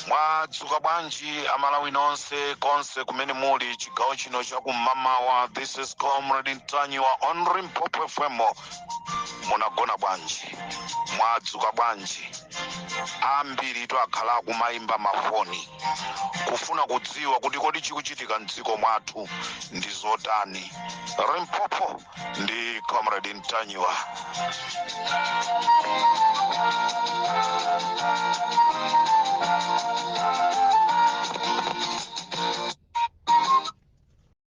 mwadzuka bwanji amalawi nonse konse kumene muli chigawo chino chakum'mawa this is comrade ntanyiwa on limpopo fm munagona bwanji mwadzuka bwanji ambiri tu akhala akumayimba mafoni kufuna kudziwa kuti kodi chikuchitika mdziko mwathu ndi zotani limpopo ndi comrade ntanyiwa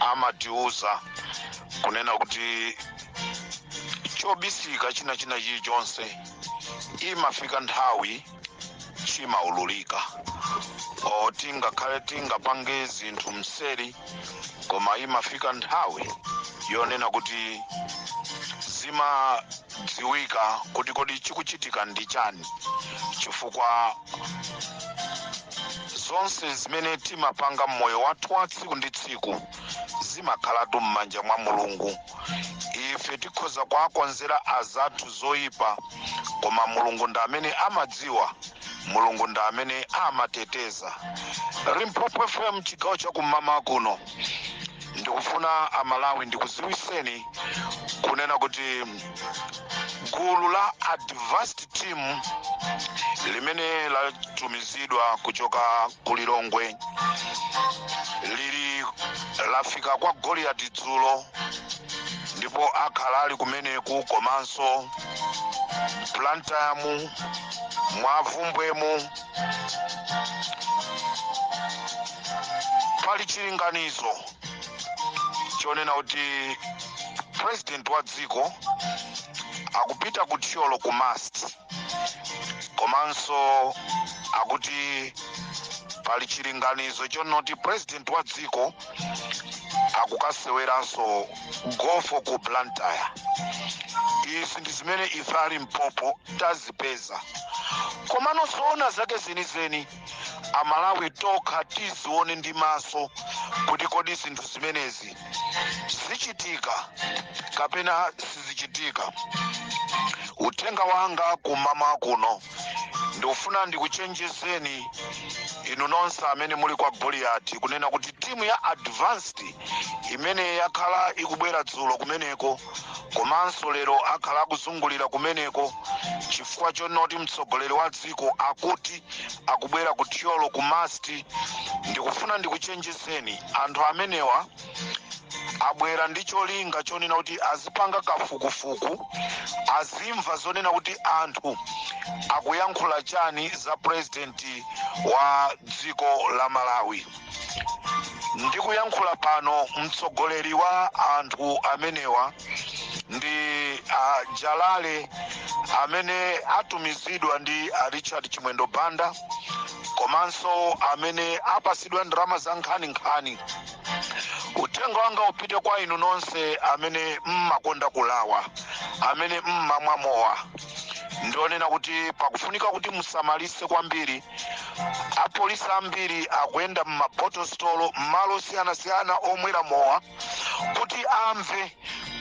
amatiuza kunena kuti chobisika china china chilichonse imafika nthawi chimaululika olo tingakhale tingapange zinthu mseri koma imafika nthawi yonena kuti zimadziwika kuti kodi chikuchitika ndi chani chifukwa zonse zimene timapanga mmoyo wathu wa tsiku ndi tsiku zimakhalatu m'manja mwa mulungu ife tikhoza kuwakonzera azathu zoyipa koma mulungu ndi amene amadziwa mulungu ndi amene amateteza limpopo fm chigawo chakum'mawa kuno ndikufuna amalawi ndikudziwitseni kunena kuti gulu la advance team limene latumizidwa kuchoka ku lilongwe lili lafika kwa goliyati dzulo ndipo akhala ali kumeneku komanso plantamu mwa bvumbwemu pali chilinganizo chonena kuti president wa dziko akupita ku thyolo ku mast komanso akuti pali chilinganizo chonoti president wa dziko akukaseweranso gofo ku blantyre izi ndi zimene ife a limpopo tazipeza komano zoona zake zenizeni amalawi tokha tizione ndi maso kuti kodi zinthu zimenezi zichitika kapena sizichitika uthenga wanga kum'mawa kuno ndikufuna ndikuchenjezeni inu nonse amene muli kwa goliyati kunena kuti timu ya advanced imene yakhala ikubwera dzulo kumeneko komanso lero akhala akuzungulira kumeneko chifukwa chonoti mtsogoleri wa dziko akuti akubwera ku thyolo ku masti ndikufuna ndikuchenjezeni anthu amenewa abwera ndi cholinga chonena kuti azipanga kafukufuku azimva zonena kuti anthu akuyankhula chani za purezidenti wa dziko la malawi ndikuyankhula pano mtsogoleri wa anthu amenewa ndi uh, jalale amene atumizidwa ndi uh, richard chimwendo banda komanso amene apasidwa ndalama za nkhaninkhani uthenga wanga upite kwa inu nonse amene mmakonda kulawa amene mmamwa mowa ndionena kuti pakufunika kuti musamalise kwambiri apolisi ambiri akuyenda m'mabotostolo m'malo osiyanasiyana omwera mowa kuti amve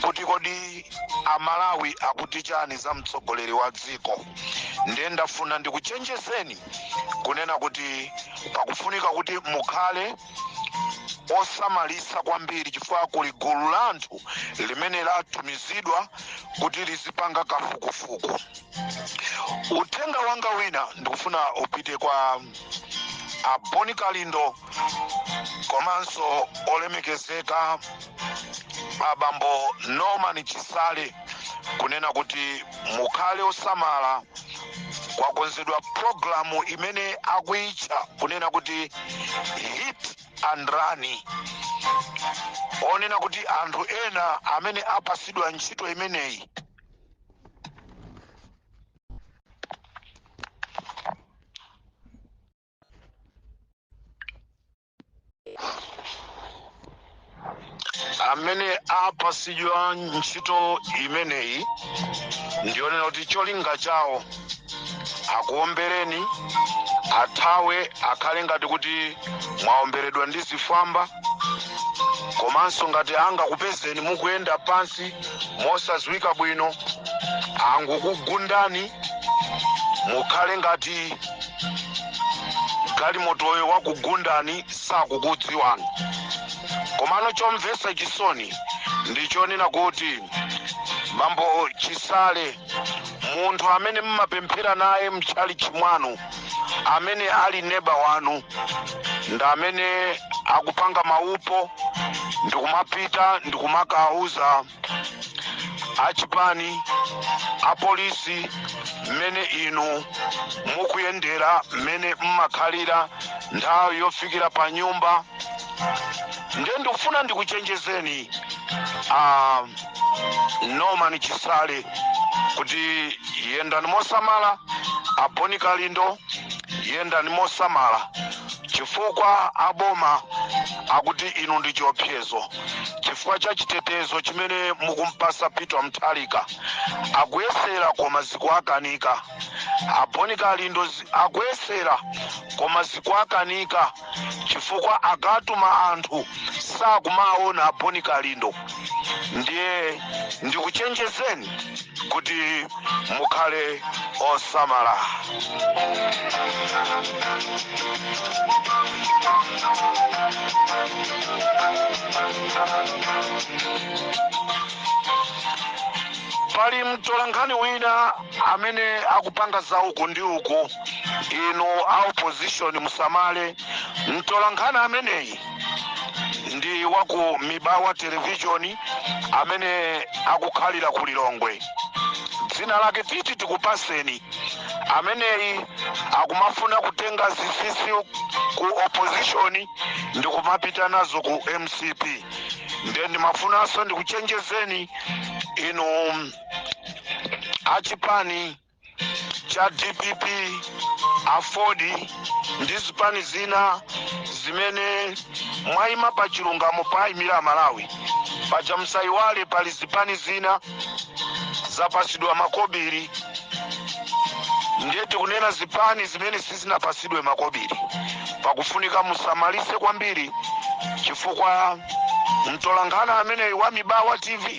kuti kodi amalawi akuti chani za mtsogoleri wa dziko ndiye ndafuna ndikuchenjezeni kunena kuti pakufunika kuti mukhale osamalisa kwambiri chifukwa kuli gulu la anthu limene latumizidwa kuti lizipanga kafukufuku uthenga wanga wina ndikufuna upite kwa a boni kalindo komanso olemekezeka abambo norman chisale kunena kuti mukhale osamala kwakonzedwa programu imene akuitcha kunena kuti hit and run onena kuti anthu ena amene apasidwa ntchito imeneyi amene apasidwa ntchito imeneyi ndionena kuti cholinga chawo akuombereni athawe akhale ngati kuti mwaomberedwa ndi zifwamba komanso ngati angakupezeni mukuyenda pansi mosadziwika bwino angokugundani mukhale ngati galimotoyo wakugundani sakukudziwani komano chomvetsa chisoni ndi chonena kuti bambo chisale munthu amene mmapemphera naye mtchalitchi mwanu amene ali neba wanu ndi amene akupanga maupo ndikumapita ndikumakauza achipani apolisi mmene inu mukuyendera mmene mmakhalira nthawi yofikira pa nyumba ndiye ndikufuna ndikuchenjezeni a norman chisale kuti yendani mosamala a bon kalindo yendani mosamala chifukwa aboma akuti inu ndi chiopsezo chifukwa cha chitetezo chimene mukumpasa peter mutharika akuyesera koma zikuakanika a bon kalindo akuyesera koma zikuakanika chifukwa akatuma anthu sakumawaona a bon kalindo ndiye ndikuchenjezeni kuti mukhale osamala pali mtolankhani wina amene akupanga za uku ndi uku inu a opposition musamale mtolankhani ameneyi ndi wa ku mibawa televishoni amene akukhalira ku lilongwe dzina lake titi tikupaseni ameneyi akumafuna kutenga zisisi ku opposition ndikumapita nazo ku mcp nde ndimafunanso ndikuchenjezeni inu achipani cha dpp aford ndi zipani zina zimene mwayima pa chilungamo poyimira amalawi paja musayiwale pali zipani zina zapasidwa makobiri ndiye tikunena zipani zimene sizinapasidwe makobiri pakufunika musamalise kwambiri chifukwa mtolankhani ameneyi wa mibawa tv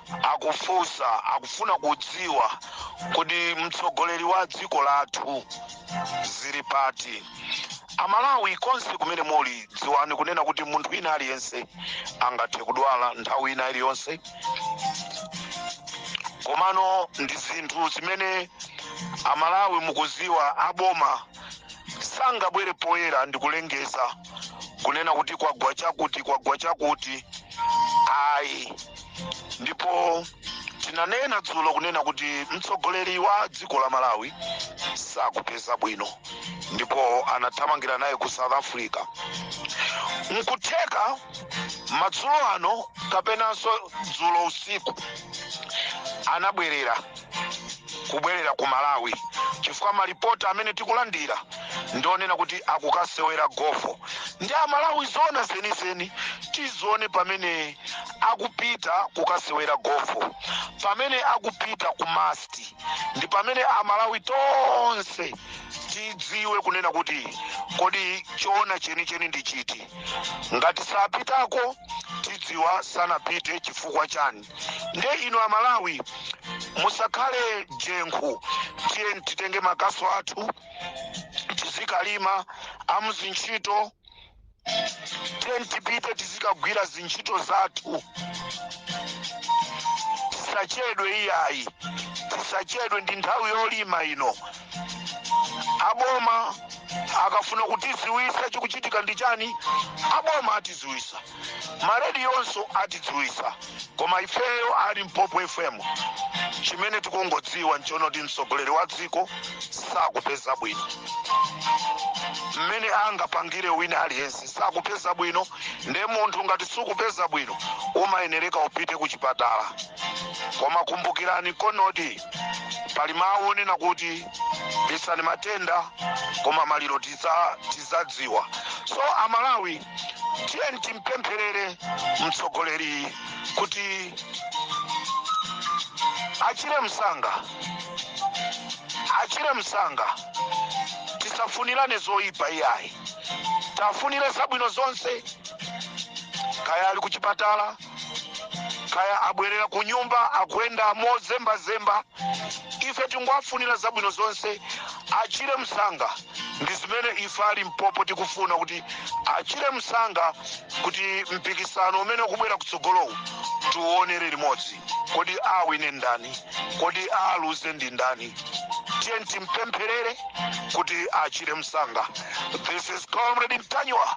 akufunsa akufuna kudziwa kuti mtsogoleri wa dziko lathu zili pati amalawi konse kumene muli dziwani kunena kuti munthu wina aliyense angathe kudwala nthawi ina iliyonse komano ndi zinthu zimene amalawi mukuziwa aboma sangabwere poyera ndikulengeza kunena kuti kwagwa chakuti kwagwa chakuti ayi ndipo tinanena dzulo kunena kuti mtsogoleri wa dziko la malawi sakupeza bwino ndipo anathamangira naye ku south africa nkutheka madzulo ano kapenanso dzulo usiku anabwerera kubwerera ku malawi chifukwa malipoti amene tikulandira ndionena kuti akukasewera gofo nde amalawi zona zenizeni tizione pamene akupita kukasewera gofo pamene akupita ku mast ndi pamene amalawi tonse tidziwe kunena kuti kodi choona chenicheni ndi chiti ngati sapitako tidziwa sanapite chifukwa chani nde inu amalawi musakhale jenkhu tiyeni titenge makasu athu tizikalima a muzintchito tiyeni tipite tizikagwira zintchito zathu tisachedwe iyayi tisachedwe ndi nthawi yolima ino aboma akafuna kutiziwisa chikuchitika ndi chani aboma atiziwisa marediyo onse atidziwitsa koma ifeyo a limpopo fm chimene tikungodziwa nchonoti mtsogoleri wa dziko sakupeza bwino mmene angapangire wina aliyense sakupeza bwino nde munthu ngati sukupeza bwino umayenereka upite ku chipatala koma kumbukirani konoti pali mawu onena kuti bisani matenda koma maliro tiza- tizadziwa so amalawi tiyeni timpempherere mtsogoleri kuti achire msanga achire msanga tisafunirane zoyipa iyayi tiwafunire zabwino zonse kaya ali kuchipatala kaya abwerera ku nyumba akuyenda mozembazemba ife tingowafunira zabwino zonse achire msanga ndi zimene ife a limpopo tikufuna kuti achire msanga kuti mpikisano umene ukubwera kutsogolowu tiuonere limodzi kodi awine ndani kodi aluze ndi ndani tiyeni timpempherere kuti achire msanga this is comrade ntanyiwa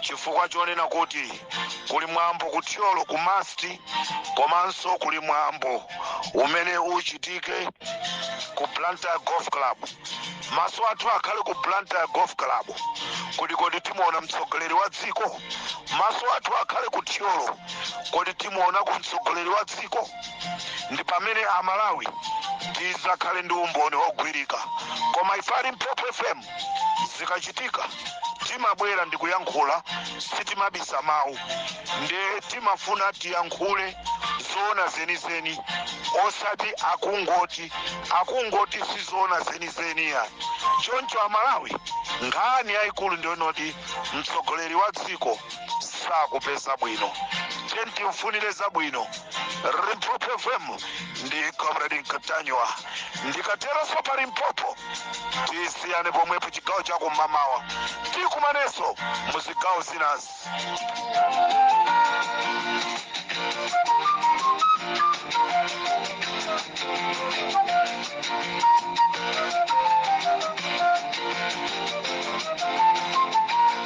chifukwa chonena kuti kuli mwambo ku thyolo ku mast komanso kuli mwambo umene uchitike ku blantyre golf club maso athu akhale ku blantyre golf club kodi kodi timuona mtsogoleri wa dziko maso athu akhale ku thyolo kodi timuona ku mtsogoleri wa dziko ndi pamene amalawi tizakhale ndi umboni wogwirika koma ife a limpopo fm zikachitika timabwera ndi kuyankhula sitimabisa mawu nde timafuna tiyankhule zoona zenizeni osati akungoti akungoti sizoona zenizeni ya choncho amalawi nkhani yayikulu ndiyonoti mtsogoleri wa dziko sakupeza bwino tiyeni timfunire zabwino limpopo fm ndi comrade ntanyiwa ndikateronso pa limpopo tisiyane pomwepo chigawo chakum'mamawa tikumanenso mu zigawo zinazi